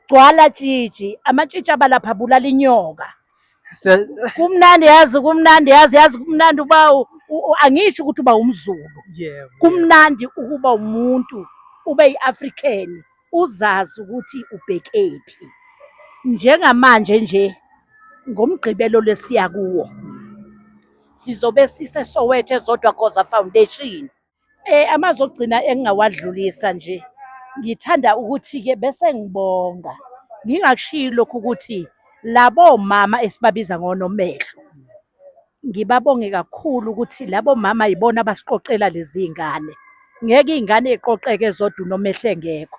gcwala tshitshi amatshitshi abalapha bulala inyoka kumnandi yazi kumnandi yazi yazi kumnandi uba angisho ukuthi uba umzulu kumnandi ukuba umuntu ube yi-african uzazi ukuthi ubhekephi njengamanje nje ngomgqibelo lesiya kuwo sizobe siseSoweto eZodwa Khoza Foundation Eh amazwi okugcina engingawadlulisa nje ngithanda ukuthi-ke bese ngibonga ngingakushiyi lokhu ukuthi labo mama esibabiza ngonomehlo ngibabonge kakhulu ukuthi labo mama yibona abasiqoqela lezi iy'ngane ngeke iy'ngane iqoqeke zodwa unomehle ngekho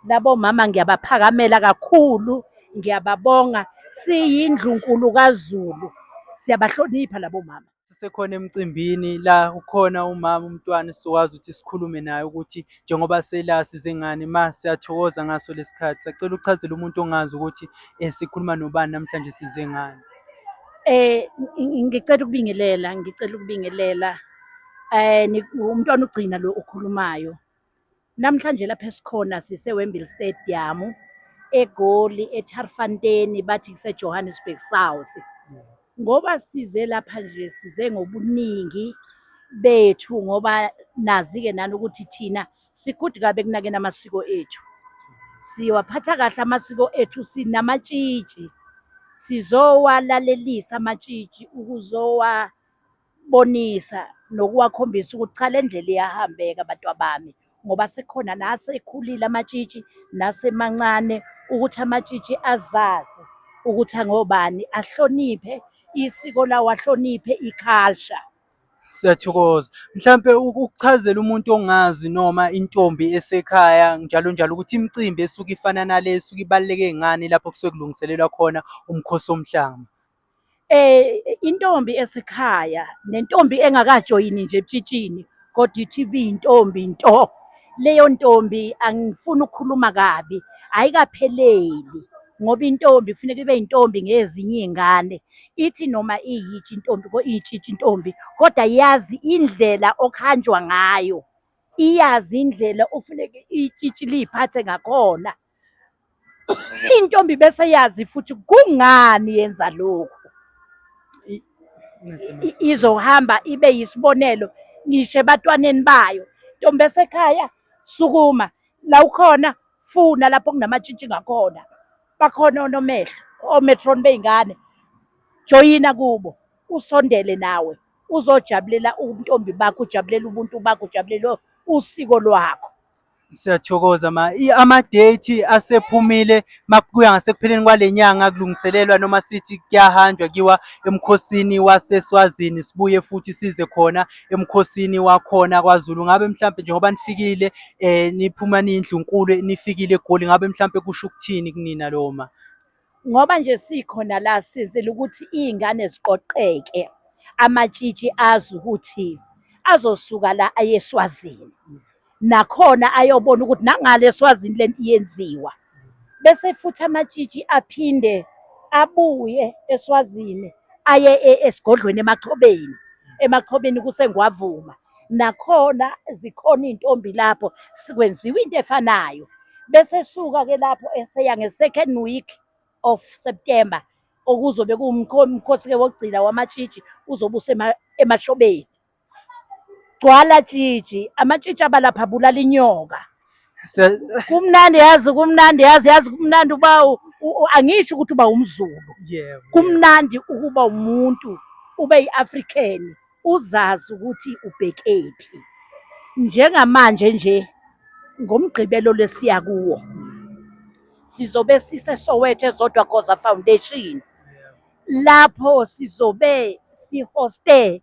labo mama ngiyabaphakamela kakhulu ngiyababonga siyindlunkulu kazulu siyabahlonipha labo mama sisekhona emcimbini la ukhona umama umntwana esizokwazi ukuthi sikhulume naye ukuthi njengoba sela size ngani ma siyathokoza ngaso lesikhathi sacela uchazela umuntu ongazi ukuthi eh, sikhuluma nobani namhlanje size ngani Eh ng- ngicela ukubingelela, ngicela ukubingelela. Eh ni- umntwana ugcina lo okhulumayo. Namhlanje lapha esikhona siseWembley Stadium eGoli eTarfanten bathi kuseJohannesburg South. Ngoba size lapha nje size ngobuningi bethu ngoba nazi-ke nani ukuthi thina sikude kabi ekunakeni amasiko ethu. Siwaphatha kahle amasiko ethu sinamatshitshi. Sizowalalelisa amatshitshi ukuzowa bonisa nokuwakhombisa ukuthi cha le ndlela iyahambeka bantwabami ngoba sekhona nasekhulile amatshitshi nasemancane ukuthi amatshitshi azazi ukuthi angobani ahloniphe isiko lawo ahloniphe iculture siyathokoza mhlampe ukuchazela umuntu ongazi noma intombi esekhaya njalo njalo ukuthi imicimbi esuke ifana nale esuke ibaluleke ngani lapho kusuke kulungiselelwa khona umkhosi omhlanga Eh intombi esekhaya nentombi engakajoyini nje ebutshitshini kodwa ithi ibiyintombi nto. Leyo ntombi angifuni ukukhuluma kabi, ayikapheleli ngoba intombi kufuneka ibe intombi ngezinye iy'ngane. Ithi noma iyitsha intombi iyitshitshi intombi kodwa yazi indlela okuhanjwa ngayo, iyazi indlela okufuneke itshitshi liy'phathe ngakhona. Intombi bese yazi futhi kungani yenza lokhu. Izohamba ibe yisibonelo ngisho ebatwaneni bayo. Ntombi esekhaya sukuma la ukhona funa lapho kunamatshitshi ngakhona. Bakhona onomehlo ometron bey'ngane. Joyina kubo usondele nawe uzojabulela ubuntombi bakho, ujabulela ubuntu bakho, ujabulela usiko lwakho. Siyathokoza ma i- amadate asephumile makuya ngasekupheleni kwale nyanga kulungiselelwa noma sithi kuyahanjwa kiwa emkhosini waseSwazini sibuye futhi size khona emkhosini wakhona kwaZulu ngabe mhlampe njengoba nifikile eh niphuma niyindlunkulu nifikile eGoli ngabe mhlampe kusho ukuthini kunina loma Ngoba nje sikhona la sizile ukuthi iy'ngane ziqoqeke amatshitshi azi ukuthi azosuka la aye eSwazini nakhona ayobona ukuthi nangale eSwazini lento iyenziwa bese futhi amatshitshi aphinde abuye eSwazini aye e, esigodlweni eMachobeni eMachobeni kusengwavuma nakhona zikhona iy'ntombi lapho sikwenziwa into efanayo bese suka-ke lapho eseya nge-second week of September okuzobe kuwumkhosi-ke wokugcina wamatshitshi uzobe usemashobeni. Gcwala tshitshi, amatshitshi abalapha abulala inyoka. kumnandi yazi kumnandi yazi yazi kumnandi uba angisho ukuthi uba umzulu kumnandi ukuba umuntu ube yi-african uzazi ukuthi ubhekephi njengamanje nje ngomgqibelo lesiya kuwo sizobe siseSoweto ezodwa Goza Foundation lapho sizobe sihoste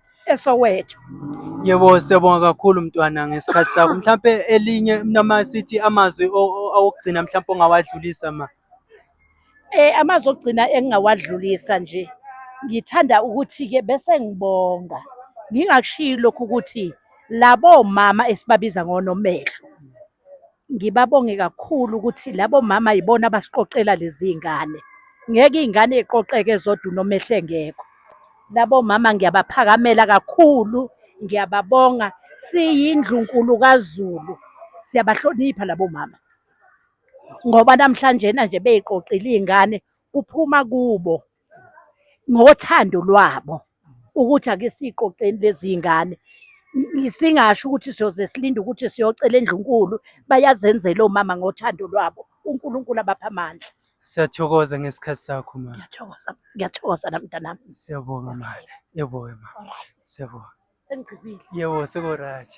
eSoweto. Yebo siyabonga kakhulu mntwana ngesikhathi sakho. Mhlampe elinye noma sithi amazwi awokugcina mhlampe ongawadlulisa ma. Eh amazwi okugcina engingawadlulisa nje. Ngithanda ukuthi ke bese ngibonga. Ngingakushiyi lokhu ukuthi labo mama esibabiza ngonomehlo Ngibabonge kakhulu ukuthi labo mama yibona abasiqoqela lezi iy'ngane. Ngeke iy'ngane y'qoqeke zodwa uNomehla engekho. Labo mama ngiyabaphakamela kakhulu, ngiyababonga. Siyindlunkulu kaZulu, siyabahlonipha labo mama ngoba namhlanjena nje bey'qoqile iy'ngane kuphuma kubo. ngothando lwabo ukuthi ake siqoqeni lezi zingane singasho ukuthi siyoze silinde ukuthi siyocela endlunkulu bayazenzela omama ngothando lwabo uNkulunkulu abapha amandla siyathokoza ngesikhathi sakho ma ngiyathokoza ngiyathokoza namntanami siyabonga ma yebo ma siyabonga sengigqibile yebo sekorathi